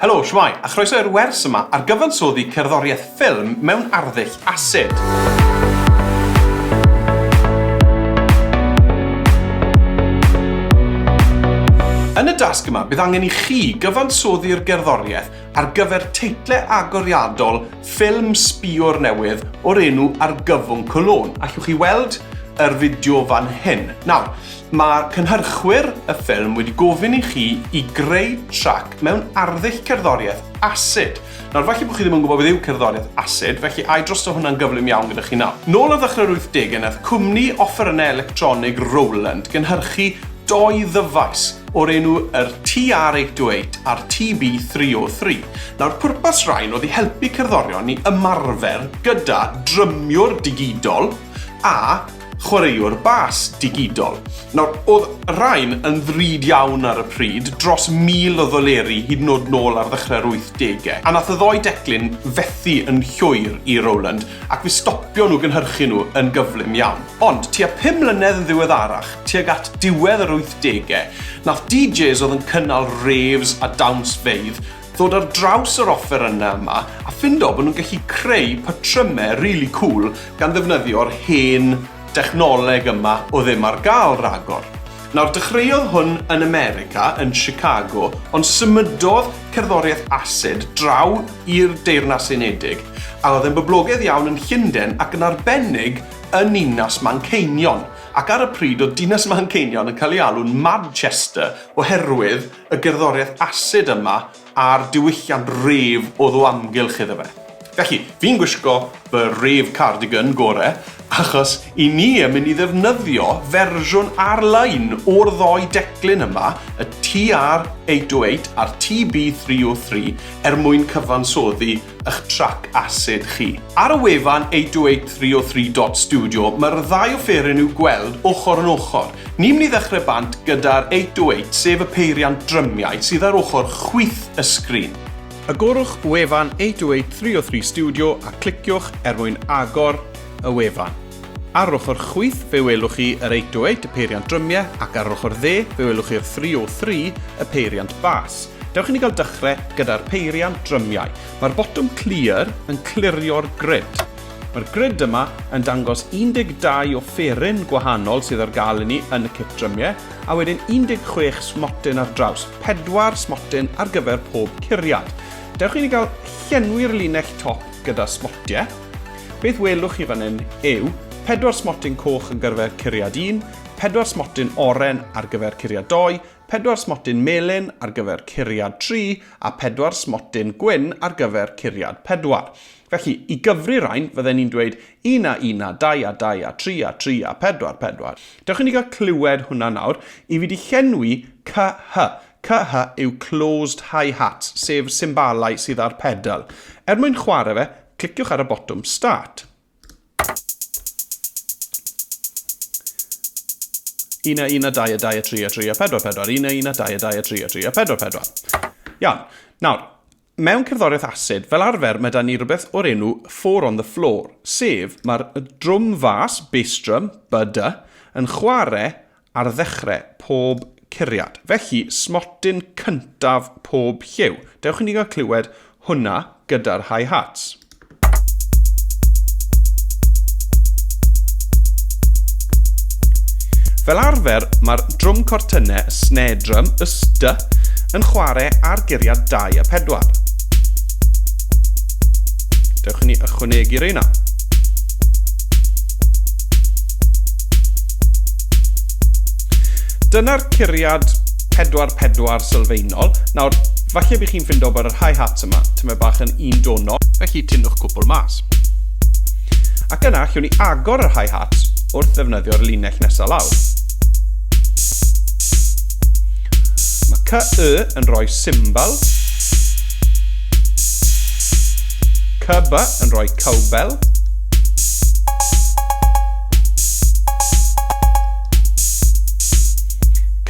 Helo, shwmae, a chroeso i'r wers yma ar gyfansoddi cerddoriaeth ffilm mewn arddull asid. Yn y dasg yma, bydd angen i chi gyfansoddi'r gerddoriaeth ar gyfer teitle agoriadol ffilm sbïwr newydd o'r enw Argyfwng Cologne. Allwch chi weld yr fideo fan hyn. Nawr, Mae cynhyrchwyr y ffilm wedi gofyn i chi i greu trac mewn arddull cerddoriaeth asid. Nawr, falle bod chi ddim yn gwybod beth yw cerddoriaeth asid, felly ai drosto hwnna'n gyflym iawn gyda chi nawr? Nôl ar ddechrau'r 80au nath cwmni offerynnau electronig Roland gynhyrchu dou ddyfais o'r enw yr TR-828 a'r TB-303. Nawr, pwrpas rhain oedd i helpu cerddorion i ymarfer gyda drymiwr digidol a chwaraewr bas digidol. Nawr, oedd rhain yn ddrud iawn ar y pryd, dros 1,000 o ddoleri hyd yn oed nôl ar ddechrau'r wythdegau, a nath y ddou declyn fethu yn llwyr i Roland ac fe stopio nhw gynhyrchu nhw yn gyflym iawn. Ond, tua pum mlynedd yn ddiweddarach, tuag at diwedd yr wythdegau, nath DJs oedd yn cynnal raves a dawnsfeydd ddod ar draws yr offerynnau yma a ffindo bod nhw'n gallu creu patrymau rili cŵl gan ddefnyddio'r hen dechnoleg yma oedd ddim ar gael ragor. Nawr, dechreuodd hwn yn America, yn Chicago, ond symudodd cerddoriaeth asid draw i'r Deyrnas Unedig a oedd e'n boblogaidd iawn yn Llunden ac yn arbennig yn ninas Manceinion ac ar y pryd oedd dinas Manceinion yn cael ei alw'n Madchester oherwydd y gerddoriaeth asid yma a'r diwylliant rêf oedd o amgylch iddo fe. Felly, fi'n gwisgo fy rêf cardigan gore achos i ni yn mynd i ddefnyddio fersiwn ar-lein o'r ddou declyn yma, y TR-808 a'r TB-303, er mwyn cyfansoddi eich trac asid chi. Ar y wefan eight oh eight three oh three dot studio mae'r ddau offeryn i'w gweld ochr yn ochr. Ni'n mynd i ddechrau bant gyda'r eight oh eight sef y peiriant drymiau sydd ar ochr chwith y sgrin. Agorwch wefan eight oh eight three oh three studio a cliciwch er mwyn agor y wefan. Ar ochr chwith fe welwch chi yr 808, y peiriant drymiau, ac ar ochr dde fe welwch chi'r 303, y peiriant bas. Dewch i ni gael dechrau gyda'r peiriant drymiau. Mae'r botwm Clear yn clirio'r grid. Mae'r grid yma yn dangos 12 offeryn gwahanol sydd ar gael i ni yn y cit drymiau, a wedyn 16 smotyn ar draws, pedwar smotyn ar gyfer pob curiad. Dewch i ni gael llenwi'r linell top gyda smotiau. Beth welwch chi fan hyn yw pedwar smotyn coch yn gyrfer curiad 1, pedwar smotyn oren ar gyfer curiad 2, pedwar smotyn melyn ar gyfer curiad 3 a pedwar smotyn gwyn ar gyfer curiad 4. Felly, i gyfri rhain, fydden ni'n dweud 1 a 1 a 2 a 2 a 3 a 3 a 4, 4. Dewch i ni gael clywed hwnna nawr. I fi di llenwi CH. CH yw closed hi-hats, sef symbalau sydd ar pedal. Er mwyn chwarae fe, Cliciwch ar y botwm Start. Una, una, dau, a dau, a tri, a tri, a pedwar, pedwar. Una, una, dau, a dau, a tri, a tri, a pedwar, pedwar. Iawn. Nawr, mewn cerddoriaeth asid, fel arfer, mae da ni rhywbeth o'r enw four on the floor, sef mae'r drwm fas, bass drum, bada, yn chwarae ar ddechre pob curiad. Felly, smotyn cyntaf pob lliw. Dewch i ni gael clywed hwnna gyda'r hi hats. Fel arfer, mae'r drwm cortynne, y snare drum, y st, yn chwarae ar guriad 2 a 4. Dewch i ni ychwanegu reina. Dyna'r curiad pedwar pedwar sylfaenol. Nawr, falle bych chi'n ffindo bod y rhai hats yma, tymed bach yn un donol, felly tynnwch cwpl mas. Ac yna, chiwn ni agor y rhai hats wrth ddefnyddio'r linell nesaf lawr. Mae CY yn rhoi symbol, CB yn rhoi cowbell,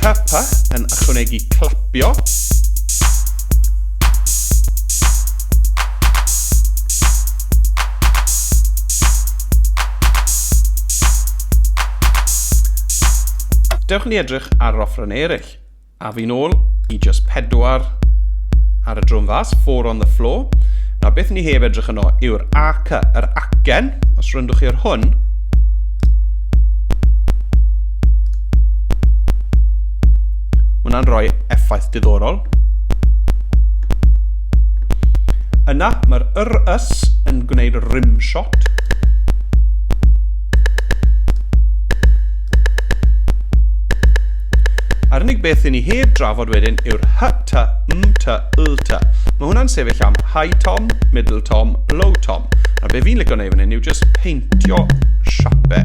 Kappa yn ychwanegu clapio. Dewch ni edrych ar yr offrau eraill. A fi'n ôl i just pedwar ar y drwm fas, four on the floor. Na, beth ni heb edrych yno yw'r ac, yr acen, os rwyndwch chi ar hwn. Hwna'n rhoi effaith diddorol. Yna, mae'r yr ys yn gwneud rim shot. A'r unig beth i ni heb drafod wedyn yw'r hy, ty, m, ty, l, ty. Mae hwnna'n sefyll am high tom, middle tom, low tom. Nawr be fi'n licio neud fan hyn yw just peintio siape.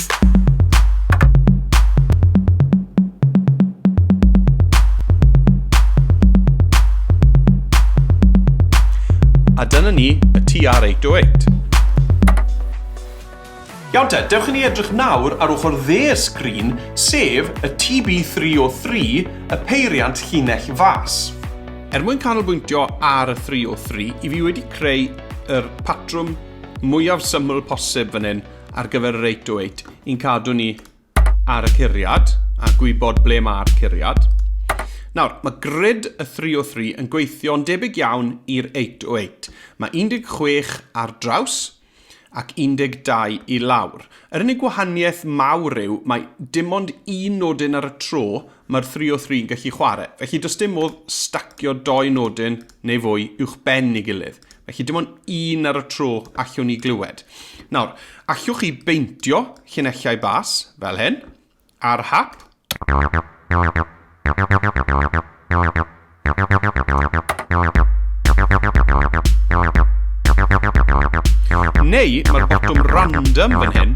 A dyna ni, y TR-808. Iawn te, dewch i ni edrych nawr ar ochr dde'r sgrin, sef y TB303, y peiriant llinell fas. Er mwyn canolbwyntio ar y 303, i fi wedi creu yr patrwm mwyaf syml posib fan hyn, ar gyfer yr 8 to 8 i'n cadw ni ar y curiad a gwybod ble mae'r curiad. Nawr, mae grid y 3 o 3 yn gweithio'n debyg iawn i'r 8 o 8. Mae 16 ar draws ac 12 i lawr. Yr unig wahaniaeth mawr yw mae dim ond un nodyn ar y tro mae'r 3 o 3 yn gallu chwarae. Felly does dim modd stacio doi nodyn neu fwy uwchben ei gilydd. Felly dim ond un ar y tro allwn ni glywed. Nawr, allwch chi beintio llinellau bas fel hyn, ar hap. Neu mae'r botwm random fan hyn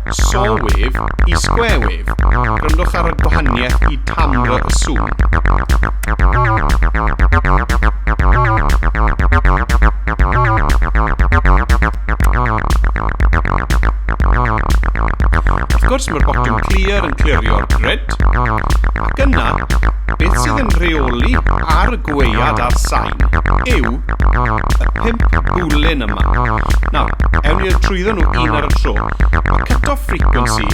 Saw wave i square wave, gwrandwch ar y gwahaniaeth i tamr y sŵn. Wrth gwrs mae'r botwm clear yn clirio'r grid, ac yna beth sydd yn rheoli ar y gweuad a'r sain yw y pump bwlyn yma. Nawr, ewn ni trwyddo nhw un ar y tro. Mae cut-off frequency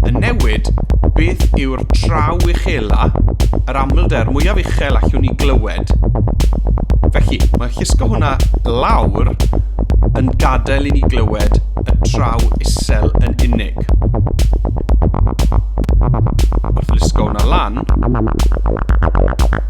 yn newid beth yw'r traw uchela, yr amlder mwyaf uchel allwn ni glywed. Felly, mae llusgo hwnna lawr yn gadael i ni glywed y traw isel yn unig. Wrth lusgo hwnna lan,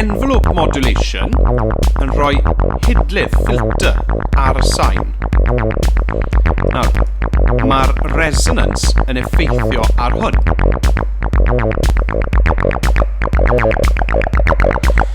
envelope modulation yn rhoi hidlydd, filter, ar y sain. Nawr, mae'r resonance yn effeithio ar hwn.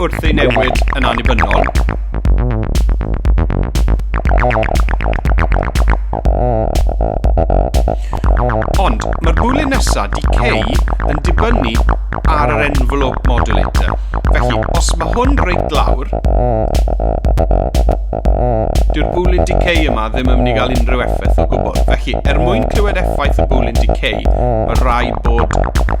wrth ei newid yn annibynnol. Ond mae'r bwlyn nesaf decay yn dibynnu ar yr envelope modulator. Felly, os mae hwn reit lawr, dyw'r bwlyn decay yma ddim yn mynd i gael unrhyw effaith o gwbl. Felly, er mwyn clywed effaith y bwlyn decay, mae rhaid bod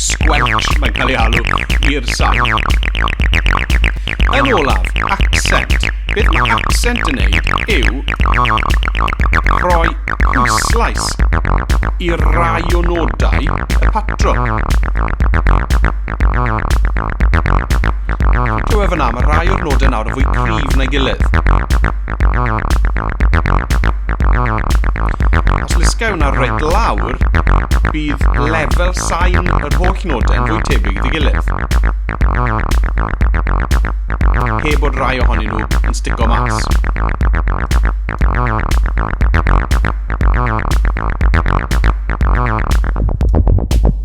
Squelch, mae'n cael ei alw, i'r sain. Yn olaf, accent. Beth mae accent yn ei yw rhoi pwyslais i rai o nodau y patrwm. Clywed fyna, mae rhai o'r nodau nawr yn fwy cryf na'i gilydd. Os lysga hwnna reit lawr, bydd lefel sain yr holl nodau yn fwy tebyg i'w gilydd. Heb bod rai ohonyn nhw yn stico mas.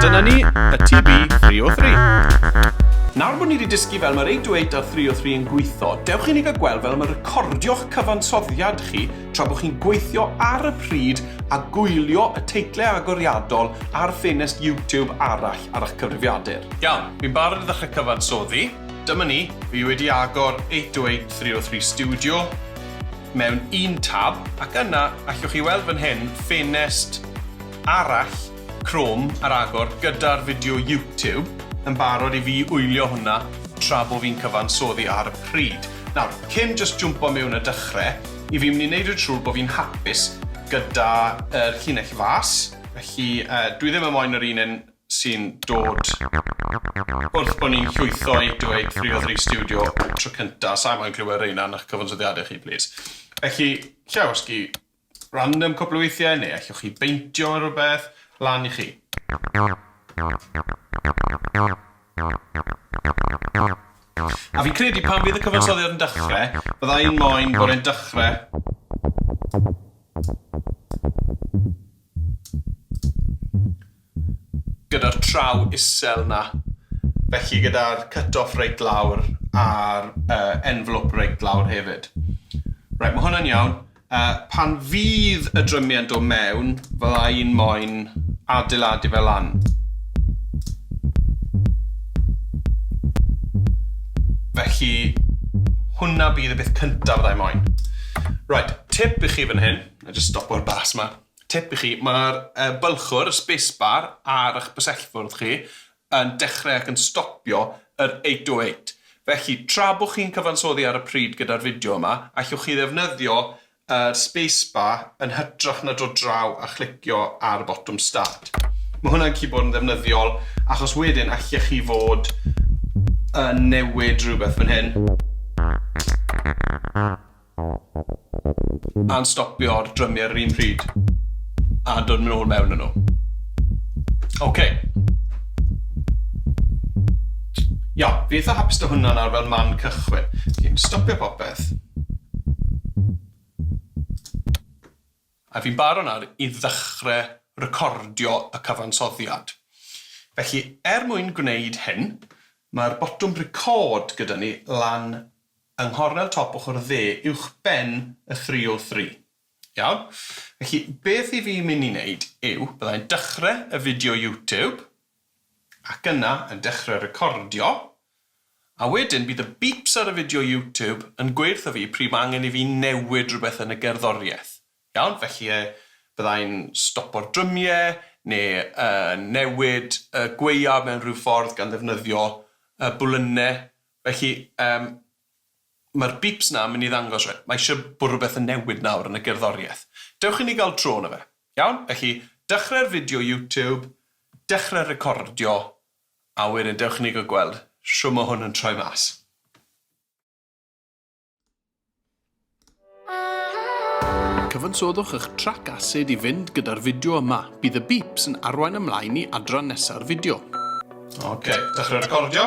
Dyna ni, y TB 303. Nawr bod ni wedi dysgu fel mae'r 808 a'r 303 yn gweithio, dewch i ni gael gweld fel y mae recordio'ch cyfansoddiad chi tra bod chi'n gweithio ar y pryd a gwylio y teitlau agoriadol ar ffenest YouTube arall ar eich cyfrifiadur. Iawn, fi'n barod i ddechrau cyfansoddi. Dyma ni, fi wedi agor 808 303 Studio. mewn un tab ac yna allwch chi weld fan hyn ffenest arall Chrome ar agor gyda'r fideo YouTube yn barod i fi wylio hwnna tra bo fi'n cyfansoddi ar y pryd. Nawr, cyn jyst jwmpo mewn a dychre i fi myn' i neud yn siŵr bo fi'n hapus gyda yr llinell fas felly yy dwi ddim yn moyn yr un yn sy'n dod wrth bod ni'n llwytho i dweud Frio Dri Stiwdio tro cynta', sai moyn clywed reina yn 'ych cyfansoddiade chi plîs. Felly, Llewysgi, random cwpl o weithiau, neu allwch chi beintio ar rywbeth, lan i chi. A fi'n credu pan fydd y cyfansoddiad yn dechre, bydda i'n moyn bod e'n dechre gyda'r traw isel 'na. Felly gyda'r cut-off reit lawr a'r envelope reit lawr hefyd. Reit, mae hwnna'n iawn. Pan fydd y drymiau yn dod mewn, fydda i'n moyn adeiladu fe lan. Felly, hwnna bydd y peth cyntaf fydda i'n moyn. Reit, tip i chi fan hyn, wna i jyst stopo'r bas 'ma. Tip i chi, mae'r bylchwr, y space bar, ar eich bysellfwrdd chi yn dechrau ac yn stopio yr 808. Felly, tra bod chi'n cyfansoddi ar y pryd gyda'r fideo yma, allwch chi ddefnyddio yr space bar yn hytrach na dod draw a chlicio ar y botwm start. Mae hwnna'n gallu bod yn ddefnyddiol achos wedyn allech chi fod yn newid rhywbeth fan hyn. A'n stopio'r drymiau yr un pryd a dod yn ôl mewn â nhw. Ok. Iawn, fi'n eitha hapus 'da hwnna nawr fel man cychwyn. Fi'n stopio popeth. A fi'n barod nawr i ddechrau recordio y cyfansoddiad. Felly, er mwyn gwneud hyn, mae'r botwm record gyda ni lan yng nghornel top ochr dde uwchben y 303. Iawn? Felly, beth i fi mynd i wneud yw, bydda i'n dechrau y fideo YouTube, ac yna yn dechrau recordio, a wedyn bydd y beeps ar y fideo YouTube yn gweud wrtho fi pryd mae angen i fi newid rhywbeth yn y gerddoriaeth. Iawn? Felly, bydda i'n stopo'r drymiau, neu newid y gwaeaf mewn rhyw ffordd gan ddefnyddio bwlynnau Felly, yym, mae'r bips 'na yn mynd i ddangos, reit, mae eisiau bod rhywbeth yn newid nawr yn y gerddoriaeth. Dewch i ni gael tro yno fe. Iawn? Felly, dechrau'r fideo YouTube, dechrau recordio, a wedyn dewch i ni gael gweld shwt mae hwn yn troi mas. Cyfansodwch eich trac asid i fynd gyda'r fideo yma. Bydd y beeps yn arwain ymlaen i adran nesa'r fideo. Ok, dechrau recordio.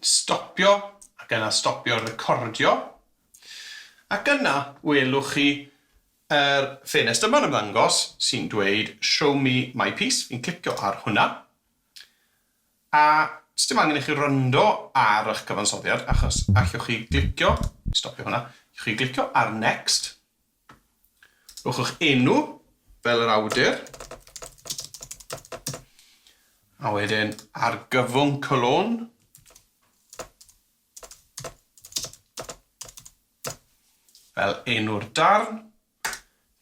Stopio ac yna stopio recordio ac yna welwch chi yr ffenest yma'n ymddangos sy'n dweud show me my piece, fi'n clicio ar hwnna. A sdim angen i chi wrando ar ych cyfansoddiad achos allwch chi glicio, stopio hwnna, allwch chi glicio ar Next, rhowch eich enw fel yr awdur, a wedyn argyfwng cylon, fel enw'r darn,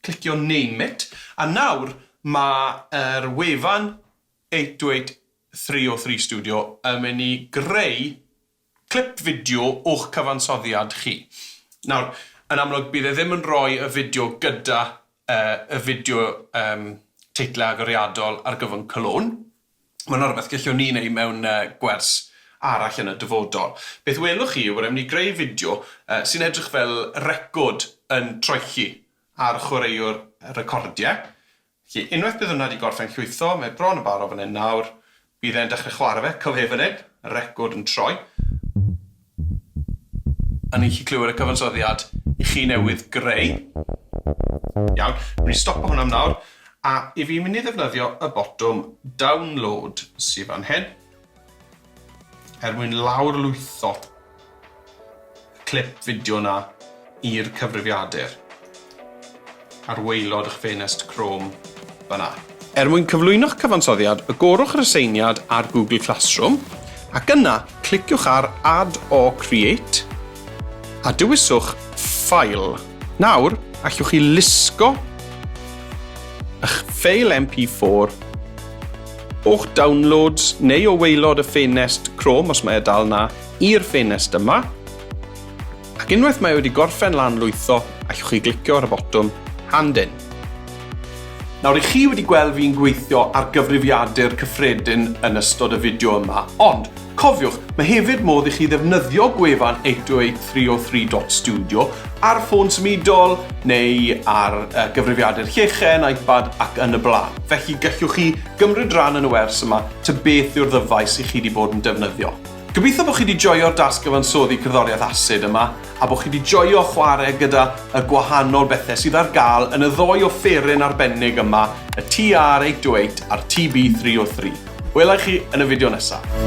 Clicio Name it, a nawr mae'r wefan 8833 Studio yn mynd i greu clip fideo o'ch cyfansoddiad chi. Nawr, yn amlwg bydd e ddim yn rhoi y fideo gyda y fideo teitlau agoriadol ar gyfwng Cologne. Mae hwnna'n rhywbeth gellwn ni wneud mewn gwers arall yn y dyfodol. Beth welwch chi yw bod raid i ni greu fideo sy'n edrych fel record yn troelli ar chwaraewr recordiau. Felly, unwaith bydd hwnna wedi gorffen llwytho, mae bron yn barod fan hyn nawr, bydd e'n dechrau chwarae fe, cyfle fan hyn, record yn troi. A ni'n gallu clywed y cyfansoddiad i chi newydd greu. Iawn, dwi di stopo hwn am nawr, a i fi mynd i ddefnyddio y botwm download sy fan hyn, er mwyn lawrlwytho y clip fideo na i'r cyfrifiadur. ar waelod eich ffenest Chrome fan'na. Er mwyn cyflwyno'ch cyfansoddiad, agorwch yr aseiniad ar Google Classroom, ac yna cliciwch ar Add or Create, a dewiswch File. Nawr, allwch chi lusgo eich ffeil MP4 o'ch Downloads neu o waelod y ffenest Chrome, os mae e dal 'na, i'r ffenest yma. Ac unwaith mae wedi gorffen lan lwytho, allwch chi glicio ar y botwm Hand In. Nawr i chi wedi gweld fi'n gweithio ar gyfrifiadur cyffredin yn ystod y fideo yma, ond, cofiwch, mae hefyd modd i chi ddefnyddio gwefan 808 303 Studio ar ffôn symudol neu ar uh, gyfrifiadur llechen, iPad ac yn y blaen. Felly gallwch chi gymryd rhan yn y wers yma ta beth yw'r ddyfais i chi wedi bod yn defnyddio. Gobeithio bod chi wedi joio'r dasg gyfansoddi cerddoriaeth asid yma a bod chi wedi joio chwarae gyda y gwahanol bethau sydd ar gael yn y ddou offeryn arbennig yma, y TR828 a'r TB303. Wela i chi yn y fideo nesaf.